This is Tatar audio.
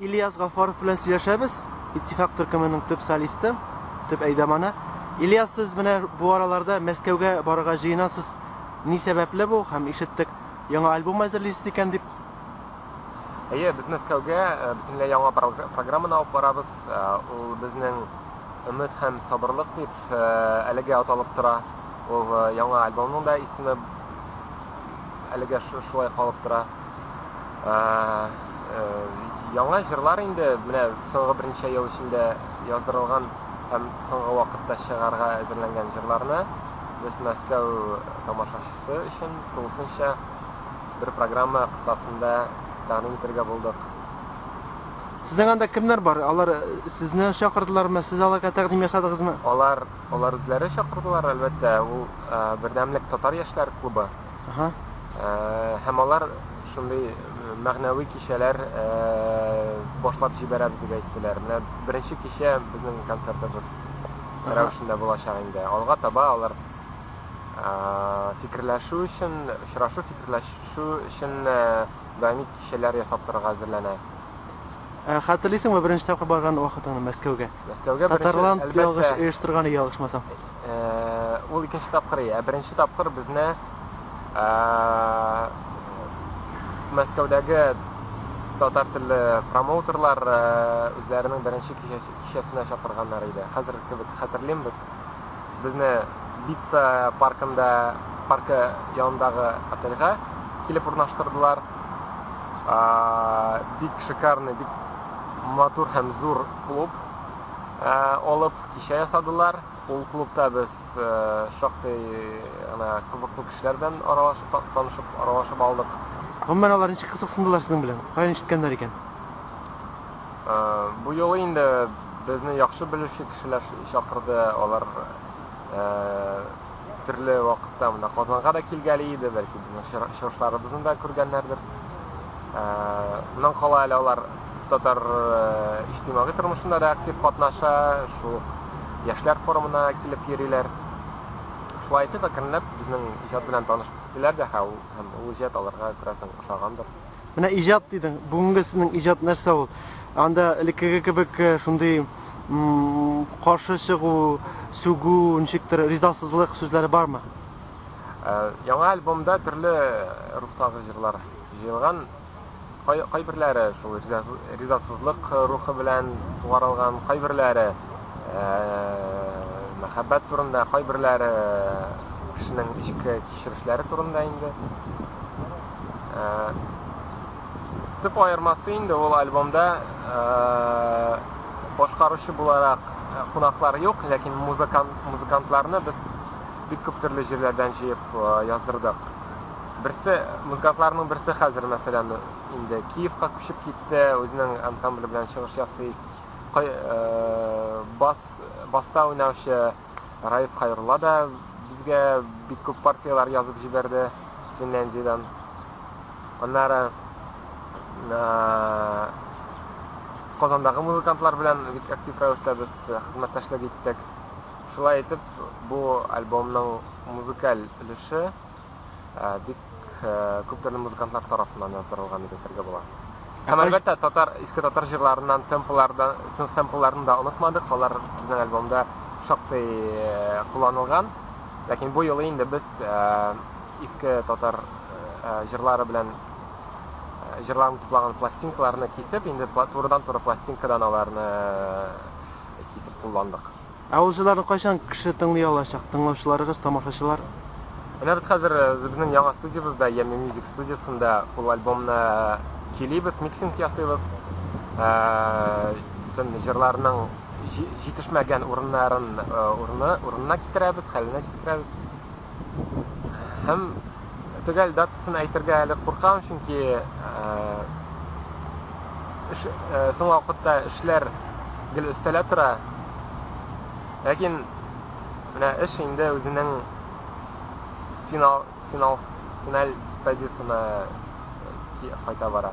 Ильяс Гафаров белән сөйләшәбез, Иттифак төркеменең төп солисты, төп әйдаманы. Ильяс, сез менә бу араларда Мәскәүгә барырга җыенасыз. Ни сәбәпле бу? Һәм ишеттек, яңа альбом әзерлисез икән дип. Әйе, без Мәскәүгә э, бөтенләй яңа программаны алып барабыз. Э, ул безнең өмет һәм сабырлык дип э, әлегә аталып тора. Ул яңа альбомның да исеме әлегә шулай калып тора. Яңа җырлар инде менә соңгы берничә ел эчендә яздырылган һәм соңгы вакытта чыгарга әзерләнгән җырларны без Мәскәү тамашачысы өчен тулысынча бер программа кысасында тәкъдим итәргә булдык. Сезнең анда кемнәр бар? Алар сезне чакырдылармы, сез аларга тәкъдим ясадыгызмы? Алар Алар үзләре чакырдылар, әлбәттә, ул Бердәмлек татар яшьләр клубы. Ага. Һәм алар шундый мәгънәви кичәләр башлап җибәрәбез дип әйттеләр. Менә беренче кичә безнең концертыбыз рәвешендә булачак инде. Алга таба алар фикерләшү өчен, очрашу фикерләшү өчен даими кичәләр ясап торырга әзерләнә. Хәтерлисеңме беренче тапкыр барган вакытыңны Мәскәүгә? Мәскәүгә беренче, Татарлан әлбәттә. ялгыш оештырганы ялгышмасам. Э, Ул икенче тапкыр, ә беренче тапкыр безне э, Мәскәүдәге татар телле промоутерлар э, үзләренең беренче кичәсе- кичәсенә чакырганнар иде. Хәзер кебек хәтерлим без. Безне Бица паркында, паркы янындагы отельгә килеп урнаштырдылар. А, Бик шикарный, бик матур һәм зур клуб алып кичә ясадылар. Ул клубта без шактый гына кызыклы кешеләр белән аралашып, танышып, аралашып алдык. Гомумән алар ничек кызыксындылар сезнең белән? Каян ишеткәннәр икән? Бу юлы инде безне яхшы белүче кешеләр чакырды. Алар төрле вакытта монда Казанга да килгәли иде, бәлки безнең чыгышларыбызны да күргәннәрдер. Моннан кала әле алар Татар иҗтимагый тормышында да актив катнаша, шул яшьләр форумына килеп йөриләр. Шулай итеп, әкренләп безнең иҗат белән танышып киттеләр дә һәм ул иҗат аларга күрәсең ошагандыр. Менә иҗат дидең, бүгенге сезнең иҗат нәрсә ул? Анда элеккеге кебек э, шундый каршы чыгу, сүгү, ничектер ризасызлык сүзләре бармы? Э, яңа альбомда төрле рухтагы җырлар җыелган. Кай, кайберләре шул ризасызлык рухы белән сугарылган, кайберләре ә, мәхәббәт турында, кайберләре кешенең эчке кичерешләре турында инде. Ә, төп аермасы инде ул альбомда э, башкаручы буларак э, кунаклар юк, ләкин музыкант, музыкантларны без бик күп төрле җирләрдән җыеп э, яздырдык. Берсе, музыкантларның берсе хәзер, мәсәлән, инде Киевка күчеп китте, үзенең ансамбле белән чыгыш ясый. Кай, э, бас, баста уйнаучы Раиф Хайрулла да безгә бик күп партияләр язып җибәрде Финляндиядән. Аннары э, Казандагы музыкантлар белән бик актив рәвештә без э, хезмәттәшлек иттек. Шулай итеп, бу альбомның музыкаль өлеше бик күп төрле музыкантлар тарафыннан яздырылган дип әйтергә була. Һәм әлбәттә, татар, иске татар җырларыннан сэмпллардан, сэмплларын да онытмадык. Алар безнең альбомда шактый э, кулланылган. Ләкин бу юлы инде без э, иске татар э, җырлары белән җырларын туплаган пластинкаларны кисеп, инде турыдан-туры пластинкадан аларны кисеп кулландык. Ә ул җыларны кайчан кеше тыңлый алачак, тыңлаучыларыгыз, тамашачылар? Менә без хәзер үзебезнең яңа студиябездә, Ями Мьюзик студиясендә ул альбомны килибез, миксинг ясыйбыз. Бөтен җырларның җитешмәгән урыннарын урынына китерәбез, хәленә җиткерәбез. Һәм Төгәл датасын әйтергә әле куркам, чөнки соңгы вакытта эшләр гел өстәлә тора. Ләкин менә эш инде үзенең финал финал финаль стадиясенә кайта бара.